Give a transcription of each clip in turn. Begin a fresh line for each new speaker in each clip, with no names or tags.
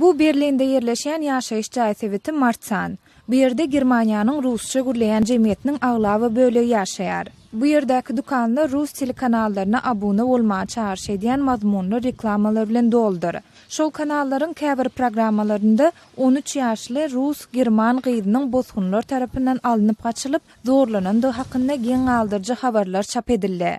Bu Berlinde ýerleşýän ýaşaýyş jaý sebiti Martsan. Bu ýerde Germaniýanyň rusça gürleýän jemgyýetiniň aglaba bölegi ýaşaýar. Bu ýerdäki dükanlar rus telekanallaryna abuna bolmaga çagyryş edýän mazmunly reklamalar bilen doludyr. Şol kanallaryň käbir programmalarynda on üç ýaşly rus, german gyzynyň bosgunlar tarapyndan alnyp gaçylyp, zorlanandygy hakynda geň galdyryjy habarlar çap edildi.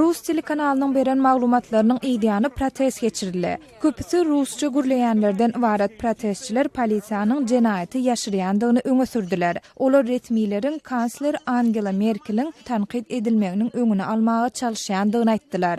Rus telekanalynyň beren maglumatlarynyň yzýany protest geçirildi. Köpüsi rusça gürleýänlerden ybarat protestçiler polisiýanyň jenaýaty ýaşyrýandygyny öňe sürdüler. Olar resmileriň kansler Angela Merkeliň tankyt edilmeginiň öňüni almaga çalyşýandygyny aýtdylar.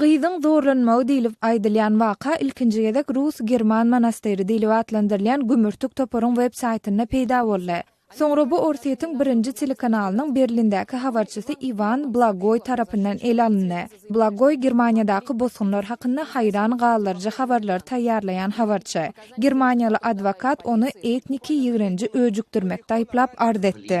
Gyzyň zorlanmagy
diýlip aýdylýan waka ilkinji gezek rus-german monastyry diýlip atlandyrylýan gümürtik toparyň websaýtynda peýda boldy. Soňra bu Orsýetiň Birinji telekanalynyň Berlindäki habarçysy Iwan Blagoý tarapyndan ele alyndy. Blagoý Germaniýadaky bosgunlar hakynda haýran galdyryjy habarlary taýýarlaýan habarçy. Germaniýaly adwokat ony etniki ýigrenji öjükdirmekde aýyplap arz etdi.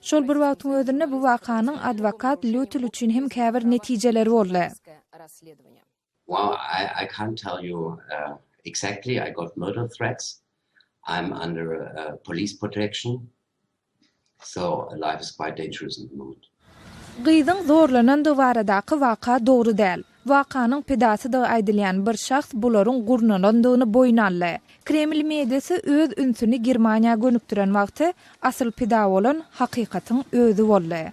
Şol bir wagtyň özünde bu wakanyň adwokat Lýutil üçin hem käbir netijeleri boldy.
Well I can't tell you exactly I got murder threats I'm under police protection so life is quite dangerous at the moment. Gyzyň
zorlanandygy baradaky waka dogry däl. Wakanyň pidasydygy aýdylýan bir şahs bularyň gurnalandygyny boýun aldy. Kreml mediasy öz ünsüni Germaniýa gönükdiren wagty, asyl pida bolan hakykatyň özi boldy.